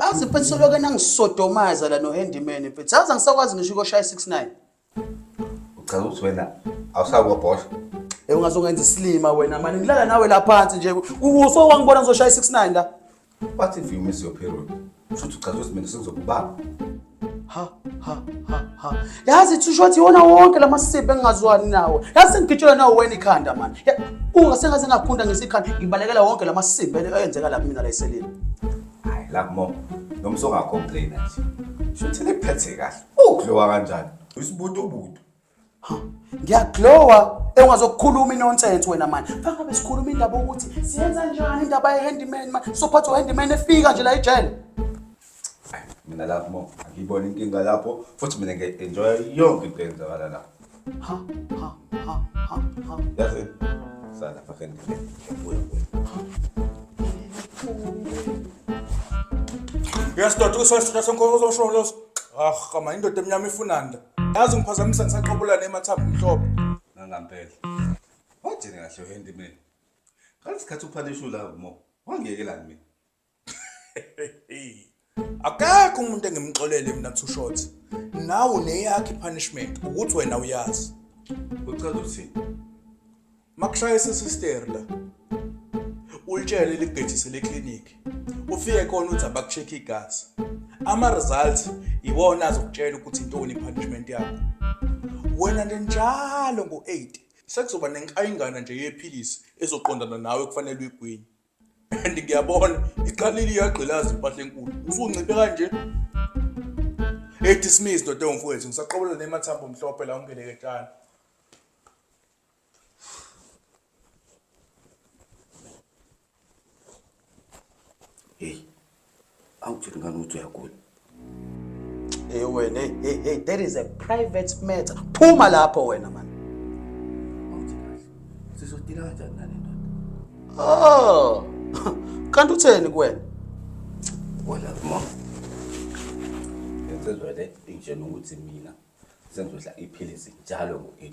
azi mfethu soloke nangisodomaza la nohandimene mfethu azi angisakwazi ngisho ukoshaya 69 uchaza ukuthi wena awusakubobhosha Eh ungazongenza isilima wena mani ngilala nawe la phansi nje. Uso wangibona ngizoshaya 69 la. What if you miss your period? Futhi uchaza ukuthi mina sengizokubamba. Ha ha ha ha. Yazi thisho ukuthi yona wonke lamasiphe engingazwani nawo. Yazi ngigitshelwa nawo wena ikhanda man. Unga sengaze ngakhunda ngesikhanda ngibalekela wonke lamasiphe ayenzeka lapha mina la eselini. Hayi la mom. Nomso ungacomplaina nje. Shuthi liphethe kahle. Ukudliwa kanjani? Isibutu butu. ngiyaglowa engazokukhuluma inonsense wena mani faka besikhuluma indaba ukuthi siyenza njani indaba ye-handyman mani sophatha u-handyman efika nje la ijele mina lapho mo angiyibona inkinga lapho futhi mina ngiya-enjoya yonke into eyenzakala la ha ha ha ha ha yazi sana fakeni ngibuya uyasidoda ukusesitha senkolo uzosho los ah kama indoda emnyama ifunanda yazi ngiphazamisa ngisaqabula nemathambo mhlophe nangampela wajene kahle uhendi mina ngaleso sikhathi uphanishu la mo wangiyekelani mina akekho umuntu engimxolele mina two shots nawe neyakhe punishment ukuthi wena uyazi uchaza uthini makushaya sesister la ulitshele ligejise le clinic ufike khona uthi abakucheck igazi ama results iwona azokutshela ukuthi intoni punishment yakho wena njalo ngo8 sekuzoba nenkayingana nje yephilisi ezoqondana nawe kufanele uyigwinye and ngiyabona iqalile iyagqilaza impahla enkulu usunciphe kanje hey dismiss dodo mfowethu ngisaqobola nemathambo mhlophe la ungeleke tshana Hey, awuthini ngani ukuthi uyagula? Hey wena, hey, hey, hey, that is a private matter. Phuma lapho wena man. Awuthini kahle. Sizodila kanjani nale ndoda? Oh. Kanti utheni kuwena? Wala mom. Ngenzwe le ingitshela ukuthi mina sengizodla iphilisi njalo ngo-8.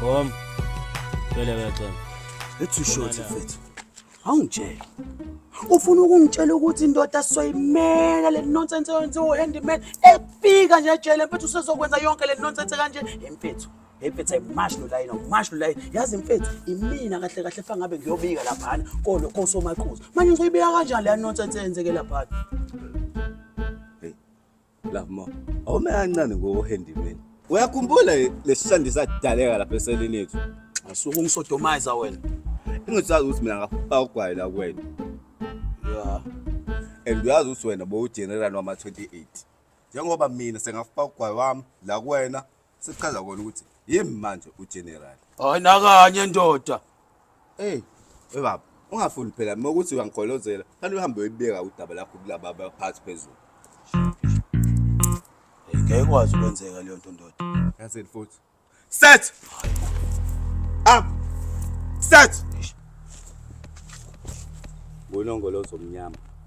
Bom. Vele kaxela. Let's you short mfethu. Awungitshela. Ufuna ukungitshela ukuthi indoda soyimela le nonsense yenze u handyman efika nje ejele mfethu usezokwenza yonke le nonsense kanje imfethu. Impetha imash lo layini umash lo layini yazi mfethu imina kahle kahle fa ngabe ngiyobika laphana kodwa kosomaqhuzu manje ngizoyibika kanjani le nonsense eyenzeke laphana Love more. Awume kancane ngohandyman. Uyakhumbula lesishandi sadaleka lapha eseleni yethu. Ngisuke ungisodomayiza wena. Engisazi ukuthi mina ngafaka ugwayi la kuwena. Yeah. And uyazi ukuthi wena bowugeneral wama 28. Njengoba mina sengafaka ugwayi wami la kuwena sekuchaza kona ukuthi yimi manje ugeneral hayi nakanye ndoda eyi we baba ungafuni phela uma ukuthi uyangigolozela fanele uhambe uyibeka udaba lakho kulaba abaphathi phezulu ngeke ikwazi ukwenzeka leyo nto ndoda yazini futhi set up set ngonongolo zomnyama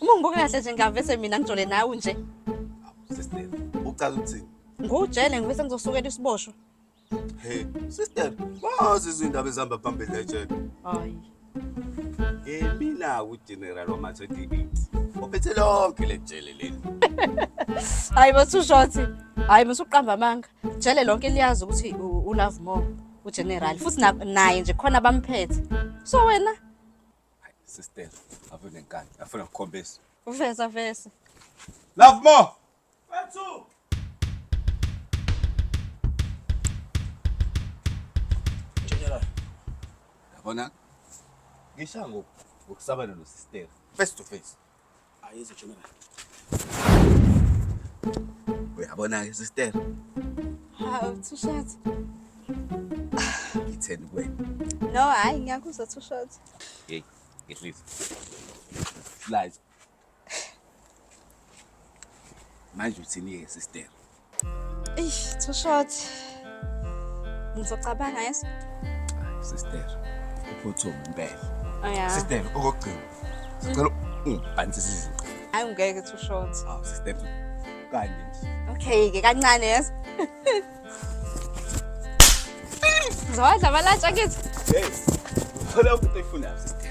Uma ngibuka kahle nje ngavese mina ngijole nawe nje. Sister, ucala ukuthini? Ngujele ngivese ngizosukela isiboshwa. Hey, sister, wazi izindaba ezihamba phambili la ejele. Hayi. Yimina uGeneral wamathe DB. Ophethe lonke le jele leli. Hayi basushothi. Hayi musuqamba amanga. Jele lonke liyazi ukuthi u- u love more uGeneral futhi na- naye nje khona bamphethe. So wena Hayi, sister, ave nenkani. Afuna ukukhombisa. Vesa vesa. Love more. Bathu. Njengela. Yabona? Ngisha ngoku ukusabana no sister face to face. Ayizo general. Uyabona ke sister. Hawu thushathi. Ngitheni kuwena? No hayi ngiyakuzwa thushathi. Hey, ngehlisa. Liza. Manje uthini ke sister? Eish, too short. Ngizocabanga yes. Sister, uphuthume impela. Oh yeah. Sister, okugcina. Sicela ungibhansisa izinto. Hayi ngeke too short. Aw, sister. Kanje nje. Okay, ke kancane yes. Zowadla balatsha kithi. Yes. Thola ukuthi uyifunayo sister.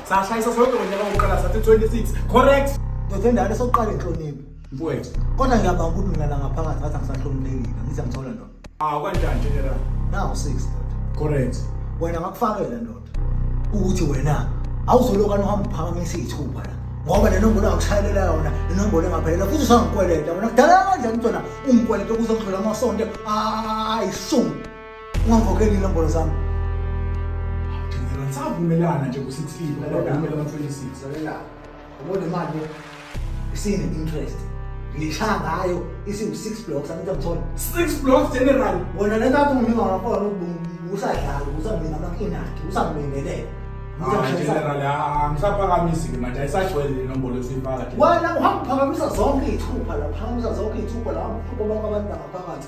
sashayisa sonke ngonyaka wokuqala sathi 26 correct ndoda endala sokuqala inhlonipho mfowethu kodwa ngiyabanga ukuthi mina la ngaphakathi ngathi angisahloniphekile angithi angithola ndoda ah kanjani general nawu 6 ndoda correct wena ngakufakela ndoda ukuthi wena awuzoloka nohamba uphakamisa iy'thupha la ngoba le nombolo angishayelela yona le nombolo engaphelela futhi usangikweleta wena kudala kanjani mntwana ungikweleta kuze ngidlula amasonto ayishumi Ungangikhokheli inombolo zami. Thina savumelana nje ku-16 ngoba kumele ama-26. Lalela. Ubona imali isine interest. Ngishaya ngayo isiwu-6 blocks angithi angithola. Six blocks general. Wena le ntathu nginika ngafona usadlala usamina amakinakhe usamlingelela. Ah, general ah, ngisaphakamisi ke manje ayisagcwele le nombolo esiyifaka nje. Wena uhamba uphakamisa zonke iy'thupha la, uphakamisa zonke iy'thupha la, uhamba uphupha bonke abantu bangaphakathi.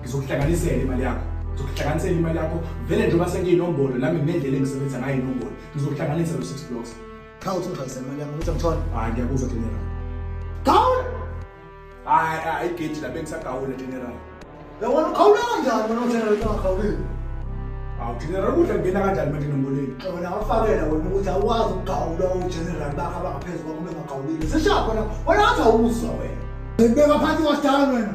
ngizokuhlanganisela imali yakho ngizokuhlanganisela imali yakho vele njengoba sengiyinombolo nami nginendlela engisebenzisa ngayo inombolo ngizokuhlanganisa lo six blocks cha uthi ngihlanganise imali yami ukuthi angithole hayi ngiyakuzwa general gawula hayi hayi igedi lapho engisagawula general yabona ukhawula kanjani wena ugeneral ungagawulile hawu general ukudla kungena kanjani manje nomboleni wena awafakela wena ukuthi awukwazi ukugawula ugeneral bakho abangaphezu kwakho bengagawulile sishapho na wena ngathi awuzwa wena ngibeka phansi kwasidala wena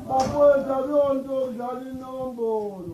Bafowethu akuyonto yokudlala inombolo.